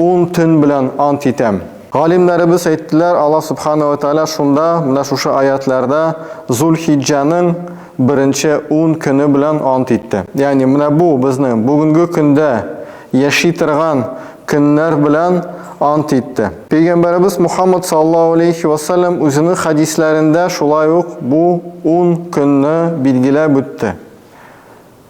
Ун төн белән ант итәм. Галимнәребез әйттеләр, Аллаһ Сүбхәнәһү вә Тәгалә шунда, менә шушы аятьләрдә, Зул-Хиҗҗәнең беренче ун көне белән ант итте. Ягъни менә бу безнең бүгенге көндә яши торган көннәр белән ант итте. Пәйгамбәребез Мухаммад саллаллаһу галәйһи вә сәлләм үзенең хәдисләрендә шулай ук бу ун көнне билгеләп үтте.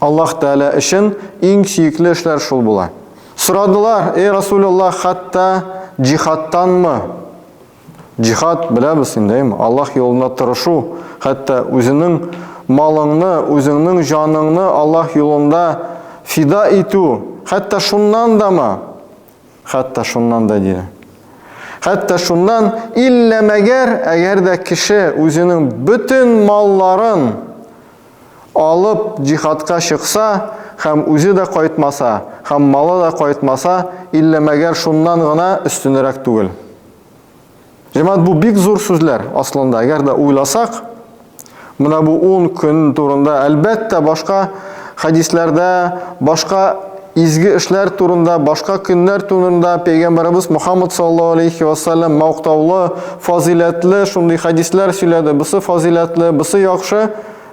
Аллаһ Тәгалә өчен иң сөекле эшләр шул була. Сорадылар, Эй Расул Аллаһ, хәтта җихадтанмы? Җихад, беләбез инде, әйме? Аллаһ юлында тырышу, хәтта үзенең малыңны, үзеңнең җаныңны Аллаһ юлында фида итү, хәтта шуннан дамы? Хәтта шуннан да диде. Хәтта шуннан иллә мәгәр, әгәр дә кеше үзенең бөтен малларын Алып җиһадка чыкса һәм үзе дә кайтмаса һәм малы да кайтмаса, иллә мәгәр шуннан гына өстенрәк түгел. Җәмәгать, бу бик зур сүзләр аслында. Әгәр дә уйласак, менә бу ун көн турында, әлбәттә, башка хәдисләрдә, башка Изге эшләр турында, башка көннәр турында Пәйгамбәребез Мөхәммәд саллаллаһу алейһи ва сәлләм мактаулы, фазыйләтле шундый хәдисләр сөйләде, бусы фазыйләтле, бусы яхшы,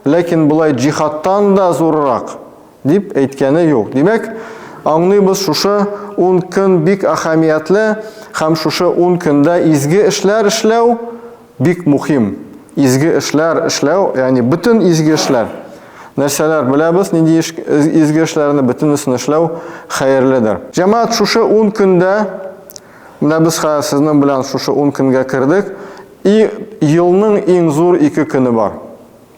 ләкин болай җихадтан да зуррак, дип әйткәне юк. Димәк, аңлыйбыз, шушы ун көн бик әһәмиятле һәм шушы ун көндә изге эшләр эшләү, Бик мухим, изге эшләр эшләү, ягъни бөтен изге эшләр. Нәрсәләр беләбез, нинди изге эшләрне, бөтенесен эшләү хәерледер. Җәмәгать шушы ун көндә, менә без хәзер сезнең белән шушы ун көнгә кердек, и елның иң зур ике көне бар.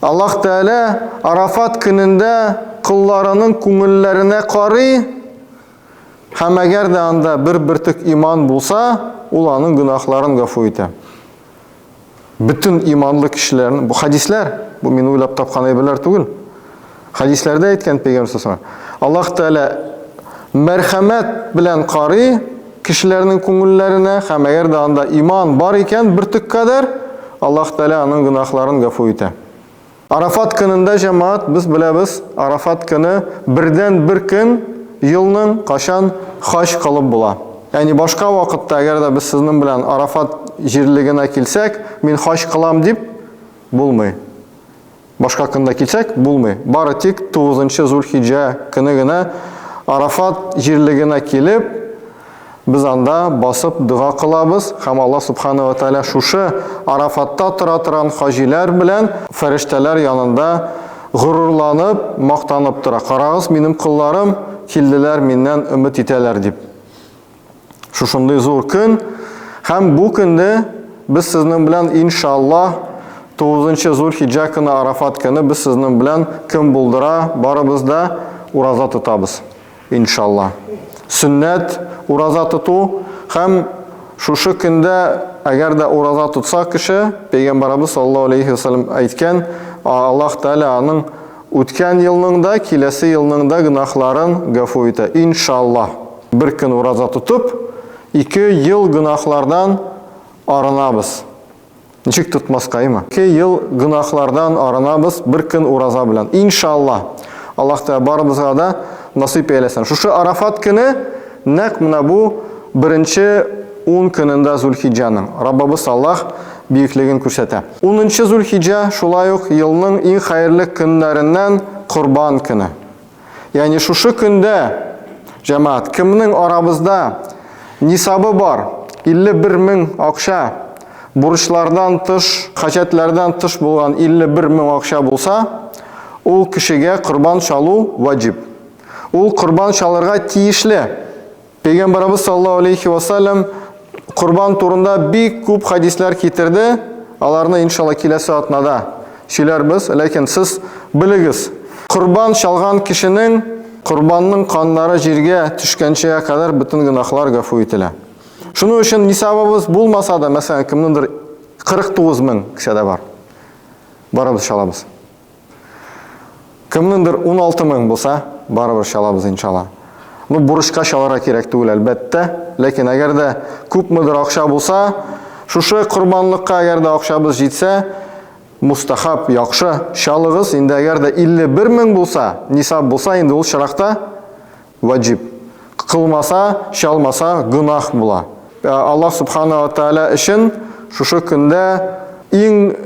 Аллаһ Тәгалә Арафат көнендә колларының күңелләренә карый, һәм әгәр дә анда бер бөртек иман булса, ул аның гөнаһларын гафу итә. Бөтен иманлы кешеләрнең, бу хәдисләр, бу мин уйлап тапкан әйберләр түгел. Хәдисләрдә әйткән пәйгамбер сасына. Аллаһ Тәгалә мәрхәмәт белән карый кешеләрнең күңелләренә, һәм әгәр дә анда иман бар икән, бер төк кадәр Аллаһ Тәгалә аның гөнаһларын гафу итә. Арафат көнендә җәмәгать, без беләбез, Арафат көне бердән бер көн елның качан хаҗ кылып була. Ягъни башка вакытта әгәр дә без сезнең белән Арафат җирлегенә килсәк, мин хаҗ кылам дип булмый. Башка хакында килсәк, булмый. Бары тик 9 нчы Зулхиҗә көне генә Арафат җирлегенә килеп, без анда басып дога кылабыз һәм Алла Субхана ва Тәгалә шушы Арафатта тора торган хаҗиләр белән фәрештәләр янында горурланып, мактанып тора, Карагыз, минем колларым килделәр, миннән өмет итәләр, дип. Шушындый зур көн һәм бу көнне без сезнең белән иншаллаһ 9 Зулхиҗа көне Арафат көне без сезнең белән кем булдыра барыбыз да ураза тотабыз. Иншаллаһ. Сөннәт ураза тоту һәм шушы көндә әгәр дә ураза тотса кеше, пәйгамбарыбыз саллаллаһу алейхи ва саллям әйткән, Аллаһ Тәгалә аның Үткән елның да, киләсе елның да гөнаһларын гафу итә, иншаллаһ. Бер көн ураза тотып, ике ел гөнаһлардан арынабыз. Ничек тотмаскаймы? Ике ел гөнаһлардан арынабыз бер көн ураза белән, иншаллаһ. Аллаһ Тәгалә барыбызга да насыйп әйләсен. Шушы Арафат көне, нәкъ менә бу беренче ун көнендә Зулхиҗҗәнең, Раббыбыз Аллаһ биеклеген күрсәтә. Унынчы Зулхиҗә, шулай ук елның иң хәерле көннәреннән Корбан көне. Ягъни шушы көндә, җәмәгать, кемнең арабызда нисабы бар, 51 мең акча, бурычлардан тыш, хаҗәтләрдән тыш булган 51 мең акча булса, ул кешегә корбан чалу ваҗиб. Ул корбан чалырга тиешле. Пәйгамбарыбыз саллаллаһу алейхи ва саллям корбан турында бик күп хадисләр китерде. Аларны иншалла киләсе атнада сөйләрбез. Ләкин сез белегез, корбан чалган кешенең корбанның каннары җиргә төшкәнчегә кадәр бөтен гөнаһлар гафу ителә. Шуның өчен нисабыбыз булмаса да, мәсәлән, кемнеңдер 49 мең кесәдә бар. Барабыз, чалабыз. Кемнендер 16 мең булса, барыбер чалабыз иншалла. Ну, бурычка чаларга кирәк түгел, әлбәттә. Ләкин әгәр дә күпмедер акча булса, шушы корбанлыкка әгәр дә акчабыз җитсә, мустахаб, яхшы, чалыгыз. Инде әгәр дә 51 мең булса, нисаб булса, инде ул чиракта ваҗиб. Кылмаса, чалмаса гөнаһ була. Аллаһ субхана ва тааля өчен шушы көндә иң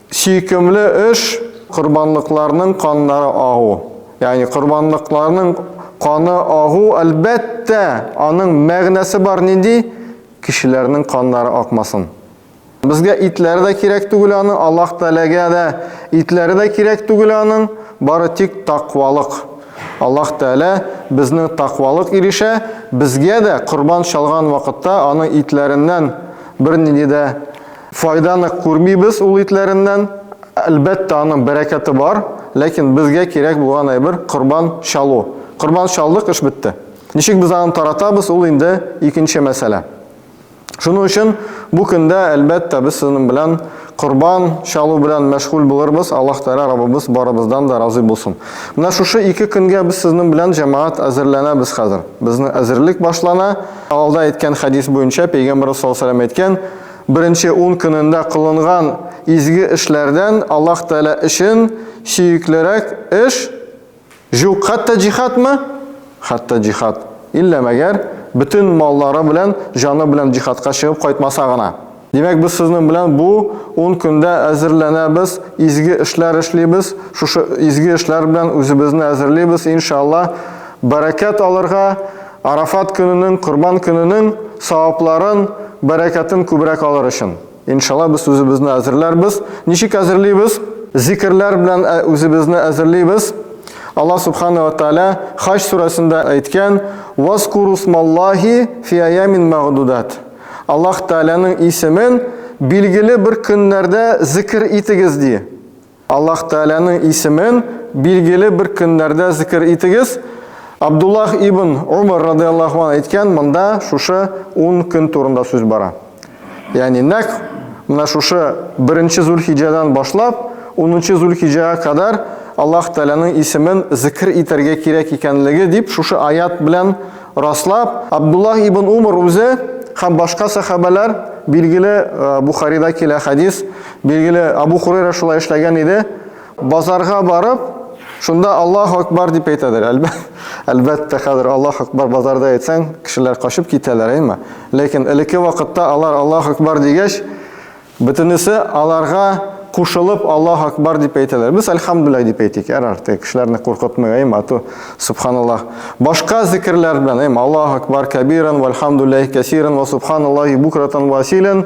Сөйкемле эш, корбанлыкларның каннары агу. Ягъни корбанлыкларның каны агу, әлбәттә, аның мәгънәсе бар нинди? Кешеләрнең каннары акмасын. Безгә итләре дә кирәк түгел аның, Аллаһ Тәгаләгә дә итләре дә кирәк түгел аның, бары тик таквалык. Аллаһ Тәгалә безнең таквалык ирешә, безгә дә корбан чалган вакытта аның итләреннән бернинди дә Файданы күрмибез ул итләреннән. Әлбәттә, аның бәрәкәте бар, ләкин безгә кирәк булган әйбер, корбан чалу. Корбан чалдык, эш бетте. Ничек без аны таратабыз, ул инде икенче мәсьәлә. Шуның өчен бу көндә, әлбәттә, без сезнең белән корбан чалу белән мәшгуль булырбыз, Аллаһ Тәгалә Раббыбыз барыбыздан да разый булсын. Менә шушы ике көнгә без сезнең белән, җәмәгать, әзерләнәбез хәзер. Безнең әзерлек башлана. Алда әйткән хәдис буенча, Пәйгамбәребез саллаллаһу галәйһи ва сәлләм әйткән, Беренче ун көнендә кылынган изге эшләрдән Аллаһ Тәгалә өчен сөеклерәк эш җук, хәтта җихадмы? Хәтта җихад. Иллә мәгәр, бөтен маллары белән, җаны белән җихадка чыгып кайтмаса гына. Димәк, без сезнең белән бу ун көндә әзерләнәбез, изге эшләр эшлибез, шушы изге эшләр белән үзебезне әзерлибез, иншалла, бәрәкәт алырга. Арафат көненең, Корбан көненең савапларын, бәрәкәтен күбрәк алыр өчен, иншалла, без үзебезне әзерләрбез. Ничек әзерлибез? Зикерләр белән үзебезне әзерлибез. Алла Субхана ва Тааля Хаҗ сүрәсендә әйткән, Вазкуру смаллахи фи аямин мәгъдудат. Аллаһ Тәгаләнең исемен билгеле бер көннәрдә зикер итегез, ди. Аллаһ Тәгаләнең исемен билгеле бер көннәрдә зикер итегез. Абдуллах ибн Умар радиаллаху ан әйткән, монда шушы 10 көн турында сүз бара. Ягъни нәкъ менә шушы 1-нче Зулхиҗәдән башлап 10-нчы Зулхиҗәгә кадәр Аллаһ Тәгаләнең исемен зикер итәргә кирәк икәнлеге дип шушы аят белән раслап, Абдуллах ибн Умар үзе һәм башка сәхабәләр, билгеле Бухарида килә хәдис, Билгеле, Абу Хурейра шулай эшләгән иде. Базарга барып, шунда Аллаһу акбар дип әйтәдер. Әлбәттә, хәзер Аллаһу акбар базарда әйтсәң, кешеләр качып китәләр, әйме? Ләкин элекке вакытта алар Аллаһу акбар дигәч, бөтенесе аларга кушылып Аллаһ акбар дип әйтәләр. Без әлхәмдүлилла дип әйтик, әр арты кешеләрне куркытмый, әй мату, субханаллаһ. Башка зикрләр белән, әй Аллаһ акбар кабиран вальхамдүлиллаһи касиран ва субханаллаһи букратан ва асилан.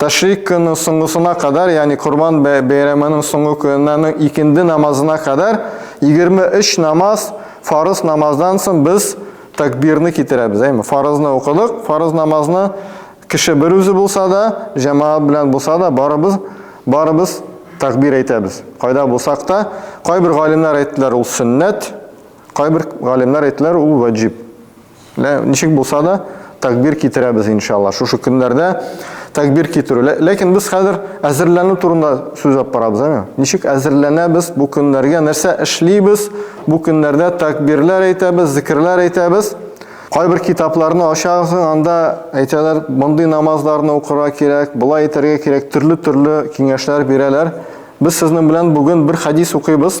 Тәшрик көне соңгысына кадәр, ягъни Корбан бәйрәменең соңгы көненә, икенде намазына кадәр 23 намаз, фарыз намаздан соң без тәкбирне китерәбез, әйме? Фарызны укыдык, фарыз намазны кеше бер үзе булса да, җәмәгать белән булса да, барыбыз барыбыз тәкбир әйтәбез. Кайда булсак та, кайбер галимнәр әйттеләр, ул сөннәт, кайбер галимнәр әйттеләр, ул ваҗиб. Лә, ничек булса да, тәкбир китерәбез, иншалла. Шушы көннәрдә тәкбир китерү. Лә, ләкин без хәзер әзерләнү турында сүз алып барабыз, әме? Ничек әзерләнәбез бу көннәргә, нәрсә эшлибез? Бу көннәрдә тәкбирләр әйтәбез, зикерләр әйтәбез. Кайбер китапларны ачагыз, анда әйтәләр, мондый намазларны укырга кирәк, болай итәргә кирәк, төрле-төрле киңәшләр бирәләр. Без сезнең белән бүген бер хәдис укыйбыз.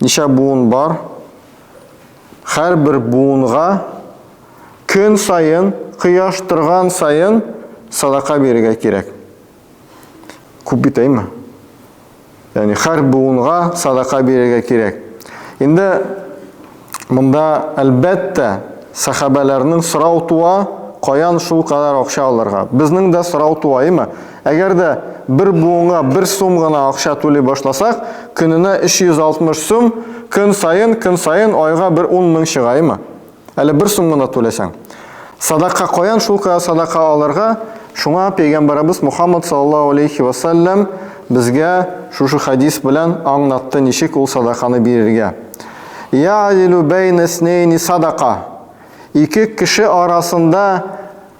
Ничә буын бар? Һәрбер буынга көн саен, кояш торган саен садака бирергә кирәк. Күп бит әйме? Яни һәр буынга садака бирергә кирәк. Инде монда әлбәттә сахабәләрнең сорау туа, каян шул кадәр акча алырга? Безнең дә сорау туа, әйме? Әгәр дә бер буынга бер сум гына акча түли башласак, көненә 360 сум, көн саен, көн саен айга бер 10 мең чыгаймы? Әле бер сум гына түләсәң. Садака каян шул кая садака алырга? Шуңа пәйгамбәребез Мухаммад саллаллаһу алейхи ва саллям безгә шушы хадис белән аңнатты ничек ул садаканы бирергә. Я'дилу бәйнә снейни садака. Ике кеше арасында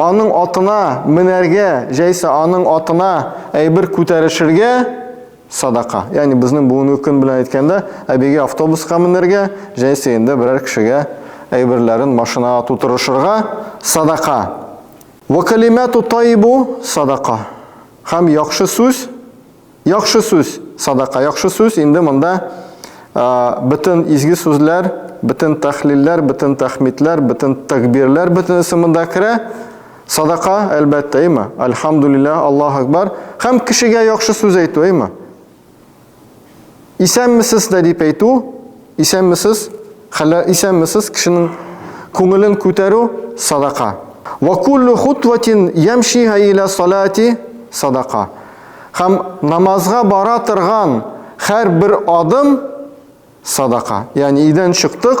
Аның атына менәргә, җәйсә аның атына әйбер күтәрешергә, садака. Ягъни безнең бүгенге көн белән әйткәндә, әбигә автобуска менәргә, җәйсә инде берәр кешегә әйберләрен машинага тутырышырга, садака. Вәкалимәту тайибу, садака. Һәм яхшы сүз. Яхшы сүз, садака, яхшы сүз, инде монда бөтен изге сүзләр, бөтен тәхлилләр, бөтен тәхмидләр, бөтен тәкбирләр, бөтенесе монда керә. Садака, әлбәттә, әйме? Альхамдулилла, Аллаһу Акбар. Һәм кешегә яхшы сүз әйтү, әйме? Исәнмесез дә дип әйтү, исәнмесез, хәлләр, исәнмесез, кешенең күңелен күтәрү садака. Ва куллу хутватин ямшиһа иля салати садака. Һәм намазга бара торган һәрбер адым садака. Ягъни өйдән чыктык,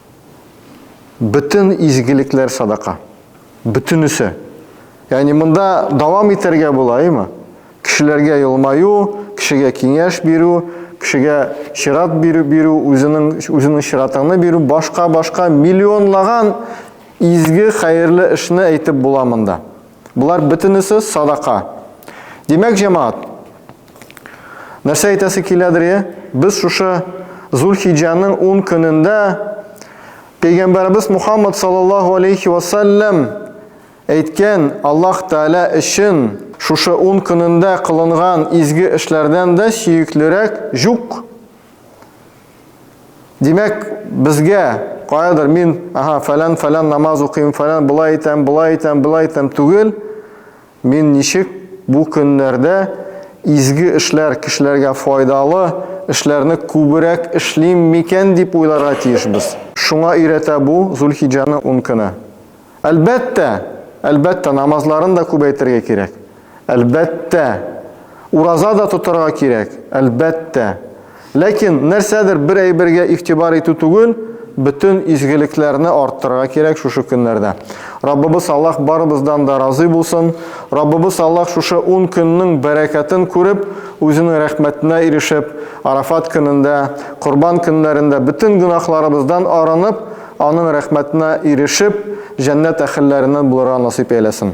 Бөтен изгелекләр садака. Бөтенесе. Ягъни монда дәвам итәргә була, әйме? Кешеләргә елмаю, кешегә киңәш бирү, кешегә чират бирү, бирү, үзенең үзенең чиратыңны бирү, башка-башка миллионлаган изге хәерле эшне әйтеп була монда. Болар бөтенесе садака. Димәк, җәмаат, Нәрсә әйтәсе киләдер, е? Без шушы Зулхиҗаның 10 көнендә Пәйгамбәрбез Мухаммад саллаллаһу алейхи ва саллям әйткән Аллаһ Тәгалә өчен шушы 10 көнендә кылынган изге эшләрдән дә сөеклерәк юк. Димәк, безгә каядыр мин, аһа, фәлән-фәлән намаз укыйм, фәлән булай итәм, булай итәм, булай итәм түгел. Мин ничек бу көннәрдә изге эшләр, кешеләргә файдалы эшләрне күбрәк эшлим микән дип уйларга тиешбез. Шуңа өйрәтә бу Зулхиҗаның ун көне. Әлбәттә! Әлбәттә, намазларын да күбәйтергә кирәк. Әлбәттә! Ураза да тотарга кирәк. Әлбәттә! Ләкин нәрсәдер бер әйбергә игътибар итү түгел, бөтен изгелекләрне арттырырга кирәк шушы көннәрдә. Раббыбыз Аллаһ барыбыздан да разый булсын. Раббыбыз Аллаһ шушы ун көннең бәрәкәтен күреп, үзенең рәхмәтенә ирешеп, Арафат көнендә, Корбан көннәрендә бөтен гөнаһларыбыздан арынып, аның рәхмәтенә ирешеп, җәннәт әһелләреннән булырга насыйп әйләсен.